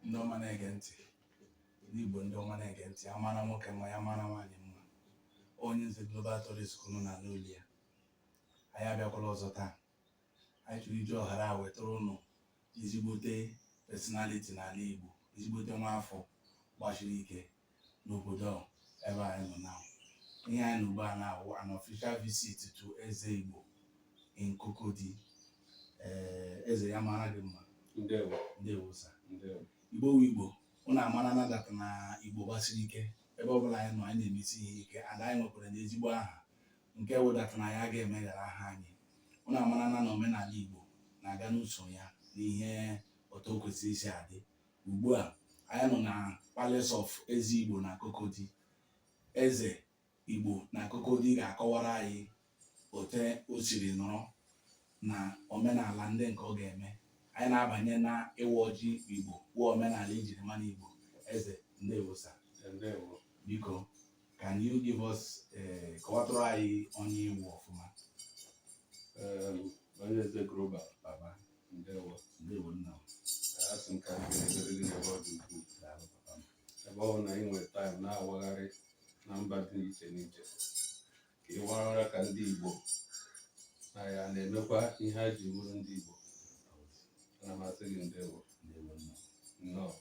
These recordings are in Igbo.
ndị ọma na-ege ntị ndị Igbo ndị ọma na-ege ntị ya mara nwoke mma ya mara nwaanyị mma onye nze Global Tourist ka ụnụ na-anụ olu ya anyị abịakwala ọzọ taa anyị chọrọ iji ọhara a wetara ụnụ ezigbote personality n'ala Igbo ezigbote nwa afọ gbachiri ike n'obodo ebe anyị nọ na ihe anyị nọ ugbu a na-awụ an official visit to eze igbo in Cocody ee eze ya mara gị mma ndewo ndewo sir ndewo igbo wu igbo ụnụ amarana that na igbo gbasiri ike ebe ọbụla anyị nọ anyị na-emesi ihe ike and anyị nwekwara na ezigbo aha nke wụ that na ya ga-emeghara aha anyị ụnụ amara na na omenala igbo na-aga n'usoro ya na ihe otu o kwesịrị isi adị ugbu a anyị nọ na Palace of Eze Igbo na Cocody eze Igbo na Cocody ga-akọwara anyị ote o siri nọrọ na omenala ndị nke ọ ga-eme anyị na-abanye na ịwa ọjị Igbo wụ omenala ejiri mara Igbo eze ndewo sir biko can you give us eh, kọwatụrụ anyị onye ị wụ ọfụma onye eze global baba ndewo ndewo nna asị m ka m kelee gị n'ebe ọ dị ukwuu ebe ọ bụ na ị nwere time na-awagharị na mba dị iche n'iche ka ị warara ka ndị Igbo na ya na-emekwa ihe ha ji bụrụ ndị Igbo ana m asị gị ndewo nnọọ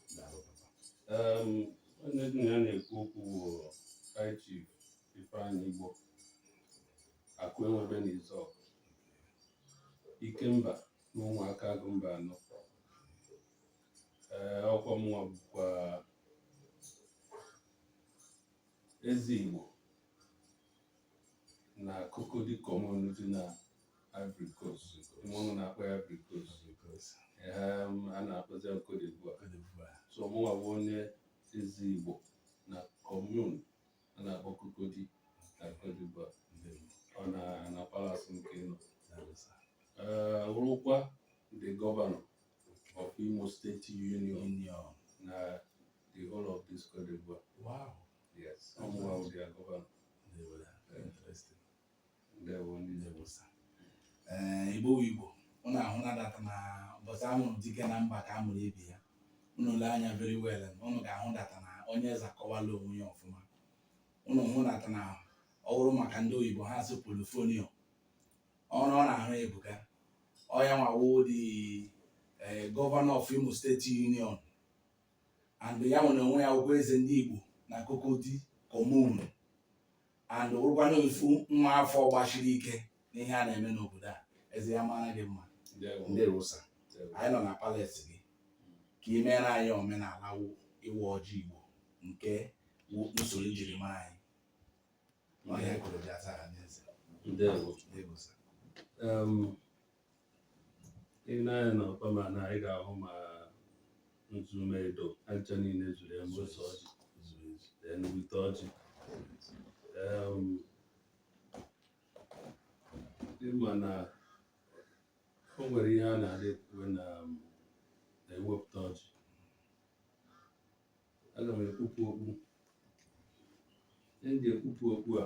onye gị na ya na-ekwu okwu bụ High Chief Ifeanyi Igbo akụ enwebe n'Izọk Ikemba na Ụmụaka Agụ Mbaanọ ee ọkwa mụnwa bụkwa eze Igbo na Cocody Commune dị na Ivory Coast mbụ a na-akpọ ya Ivory Coast Em, a na-akpọzi ya Cote d'Ivoire so mụnwa bụ onye eze Igbo na Commune a na-akpọ Cocody na Cote d'Ivoire ọ na na palace m ka ị nọ Eh, wụrụkwa the governor of Imo State Union na the whole of this Cote d'Ivoire Wow. yes ọ mụwa wụ their governor ee igbo wu igbo ụnụ ahụna that na ụbọchị a mụrụ dike na mba ka a mụrụ ibe ya ụnụ lee anya very well ụnụ ga-ahụ that na onye eze akọwala onwe ya ọfụma ụnụ hụ that na ọ bụrụ maka ndị oyibo ha sị portfolio ọrụ ọ na-arụ ebuka ọ yanwa wụ the governor of Imo State Union and ya nwa onwe ya wụkwa eze ndị igbo na Cocody Commune and wụrụkwa na ofu nwa afọ gbashiri ike n'ihe a na-eme n'obodo a eze ya mara gị mma ndewo sir anyị nọ na palace gị ka ị meere anyị omenala ịwa ọjị igbo nke usoro e jiri mara anyị n'ọhịa kụrụ bịa taa n'eze i nee anya na ọkpa ma na anyị ga-ahụ ma nzu ma edo aja niile zuru ya mgbe a sa ọjị then wete ọjị Em, ị ma na o nwere ihe a na-adị ekwu na um, na e wepụta ọjị aga m ekpupụ okpu m ji ekpupụ okpu a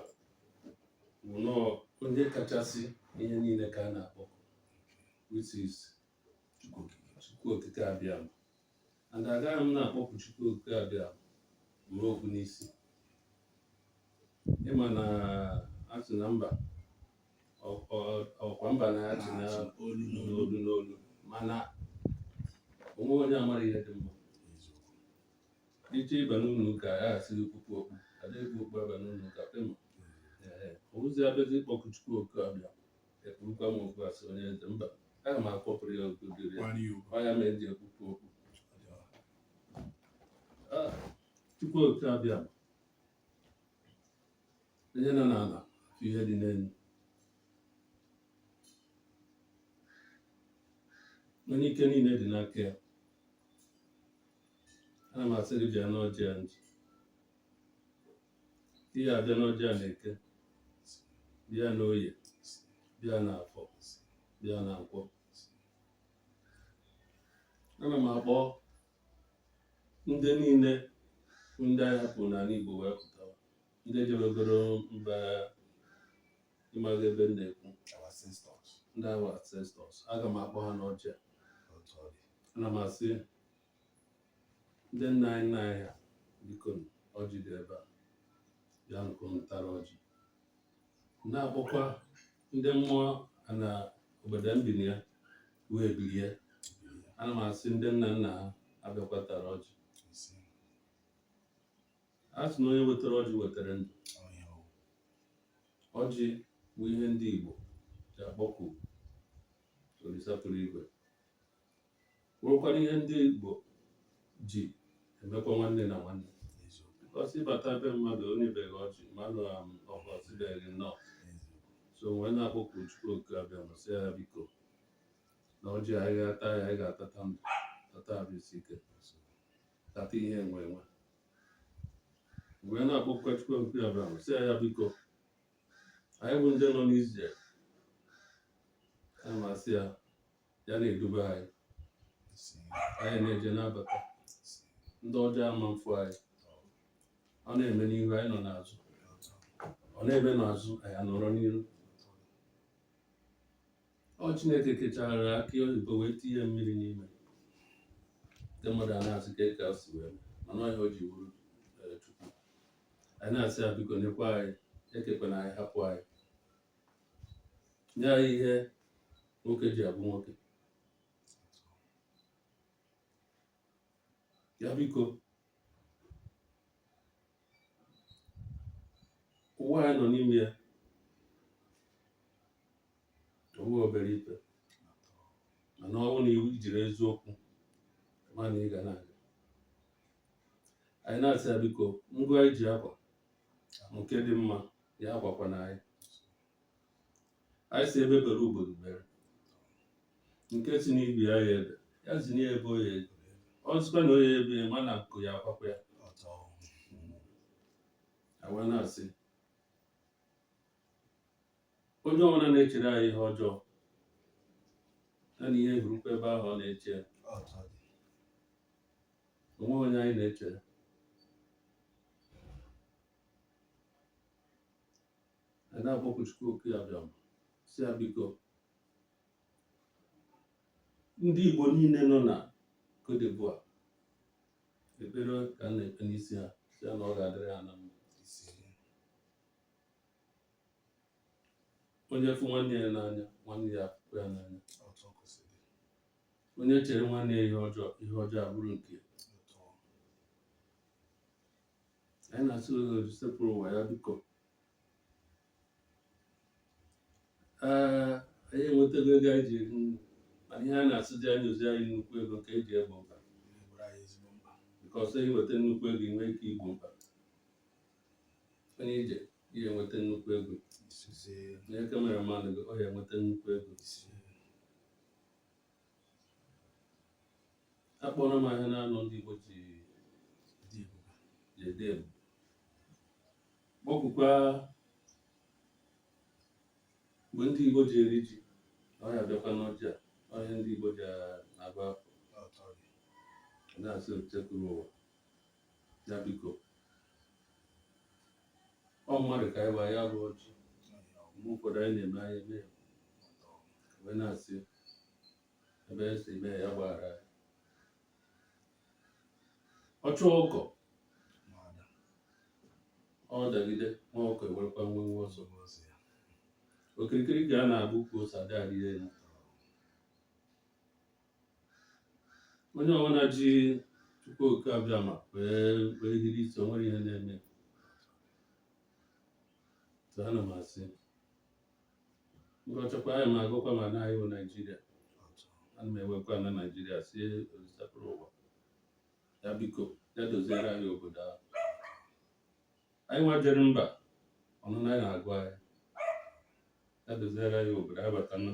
bụ na ọ onye kachasị ihe niile ka a na-akpọ which is Chukwu Okike Abịama and agaghị m na-akpọku Chukwu Okike Abịama buru okpu n'isi ị ma na a sị na mba ọkwa mba na-achị n'olu n'olu n'olu mana onwe onye amara ihe dị mma ị je ịba n'ụlọ ụka ya asị gị kpupụ okpu adịghị okpu aba n'ụlọ ụka pema ozi abịazi ịkpọku chukwu okike abịama ekpurukwa m okpu asị onye eze mba aga m ekpupụrụ ya okpu dịrị ya ọ ya mere m ji ekpupụ okpu chukwu okike abịama onye nọ n'ala afụ ihe dị n'elu onye ike niile dị n'aka ya ana m asị gị bịa n'ọjị a m ji ihe a bịa n'ọjị a n'eke bịa n'oye bịa n'afọ bịa na nkwọ ana m akpọ ndị niile bụ ndị anyị hapụrụ n'ala Igbo wee pụta ndị jebegoro mba ịmaghị ebe m na-ekwu ndị our ancestors aga m akpọ ha n'ọjị a. ana m asị ndị nna anyị nna anyị ha biko nụ, ọjị dị ebe a bịakwanụ tara ọjị na-akpọkwa ndị mmụọ na obodo m bi na ya wee biri ana m asị ndị nna nna ha abịakwa tara ọjị a sị na onye wetara ọjị wetara ndụ ọjị bụ ihe ndị Igbo ji akpọku Olisa kpụrụ igwe nwekwara ihe ndị Igbo ji emekwa nwanne na nwanne because ị bata be mmadụ o nyebeghị ọjị mmadụ ọ ka sịbeghị nnọọ so wee na-akpọku Chukwu oke Abịama sị ya biko na ọjị anyị ga-ata ya anyị ga-atata ndụ tata arụ isi ike tata ihe enwe enwe wee na-akpọkwa Chukwu oke Abịama sị ya biko anyị bụ ndị nọ n'ije anyị na-asị ya ya na-edube anyị anyị na-eje na-abata ndị ọjọọ ama mfụ anyị ọ na-eme n'ihu anyị nọ n'azụ ọ na-eme n'azụ anyị anọrọ n'iru ọ Chineke kechara akị oyibo wee tinye mmiri n'ime ndị mmadụ a na-asị kee ka e si wee mana ọ ihe o ji wụrụ eh, Chukwu anyị na-asị ya biko nekwa anyị ekekwana anyị hapụ anyị nye anyị ihe nwoke ji abụ nwoke ya biko ụwa anyị nọ n'ime ya ọ wụ obere ife mana ọ bụrụ na i jiri eziokwu ma na ị ga na-aga anyị na-asị ya biko ngwa anyị ji akwa nke dị mma ya akwakwana anyị anyị sị egbe bere ugo bere nke sị na ibe ya aya ebe ya zinụ ya ebe ọ ya-ebe ọ sịkwa na ọ ya-ebe ma na nku ya akwakwa ya a wee na-asị onye ọbụla na-echere anyị ihe ọjọọ ya na ihe hụrụkwa ebe ahụ ọ na-eche ya o nweghị onye anyị na-echere anyị na-akpọku Chukwu oke Abịama sị ya biko ndị Igbo niile nọ na Cote d'Ivoire ekpere ka a na-ekpe n'isi ha sị ya na ọ ga-adịrị ha na mma onye fụ nwanne ya n'anya nwanne ya afụkwa ya n'anya otu o kwesịrị dị, onye chere nwanne ya ihe ọjọọ ihe ọjọọ abụrụ nke ya. otu ọ- anyị na-asị Osebụrụwa ya biko ee anyị enwetago ego anyị ji eri nri mana ihe a na-asịzi ya nyezi anyị nnukwu ego ka e ji egbo mkpa because i nweta nnukwu ego i nwee ike igbo mkpa onye ije ihe enweta nnukwu ego onye cameraman gị ọ ya enweta nnukwu ego akpọrọ m ahịa naanọ ndị Igbo ji ji ede m kpọkukwa mgbe ndị Igbo ji eri ji ọ ya bịakwa n'ọjị a ọhịa ndị Igbo ji agba na-asị Olisa buru ụwa ya biko ọ mmadụ ka anyị wa ya bụ ọjị mgbe ụfọdụ anyị na-eme anyị eme wee na-asị ebe esi mee ya gbaghara ọchụ ọkụkọ ọ dagide nwa ọkụkọ ewerekwa nwenwe ọsọ okirikiri ka a na-agba ukwu ose adịghị arị elu onye ọbụla ji Chukwu oke abịama wee wee hiri isi o nwerọ ihe na-eme so ana m asị gọchakwa anyị m agọkwa ma na anyị bụ Naijiria ana m ewekwa ana Naijiria sị Olisa buru ụwa ya biko ya doziere anyị obodo ahụ anyị nwa jere mba ụnọ anyị na-agụ anyị ya doziere anyị obodo anyị batana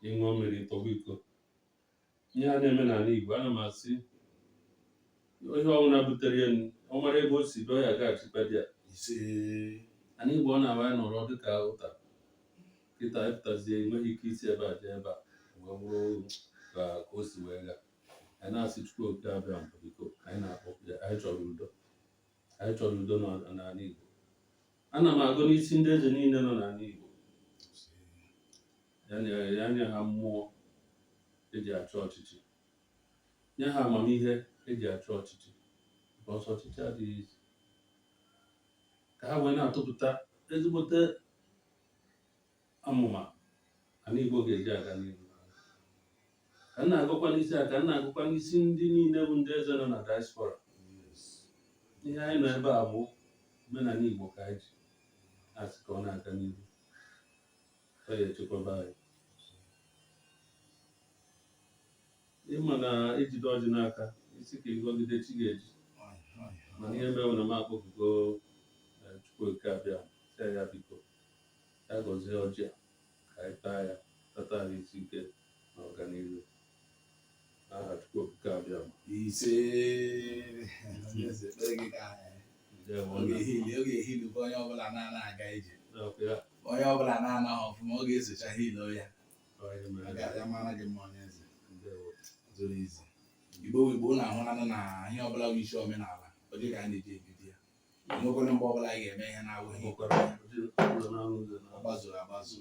ịṅụọ mmiri tọgbọ iko ihe a na-eme n'ala Igbo ana m asị onye ọbụla butere ya ọ mara ebe o si dọọ ya gaghachikwa di ya ise ana Igbo ọ na-awa ya nọrọ dịka ụta kịta ị pụtazie i nweghị ike isi ebe a jee ebe a wee bụrụ ka o si wee gaa anyị na-asị Chukwu oke abịama biko anyị na-akpọku ya anyị chọrọ udo anyị chọrọ udo n'ọ- n'ala Igbo ana m agọ n'isi ndị eze niile nọ n'ala Igbo ya nye ya nye ha mmụọ eji achị ọchịchị nye ha amamihe eji achị ọchịchị because ọchịchị adịghị easy ka ha wee na-atụpụta ezigbote amụma ana Igbo ga-eji aga n'ihu ka m na-agọkwa n'isi a ka m na-agọkwa n'isi ndị niile bụ ndị eze nọ na diaspora ihe anyị nọ ebe a bụ omenala Igbo ka anyị ji asị ka ọ na-aga n'ihu ọ ya echekwaba anyị ị ma na e jide ọjị n'aka ị sị ka ị gọgide chi ga-eji mana ihe mere na m akpọkugo eh, Chukwu oke abịama sị ya biko ya gọzie ọjị a ka anyị taa ya tata ahụ isi ike na ọganihu onye ọbụla na-ana ọfụma ọ ga-esocha hilo ya ya mara gị mma onye eze zuru ezu Igbo Igbo na ahụnanụ na ihe ọbụla bụ isi omenala ọjị ka a na-eji ebido ya o nwekwarọ mgbe ọbụla anyị ga-eme ihe na-awụghị ọ gbazuru agbazu ọ gbazuru agbazu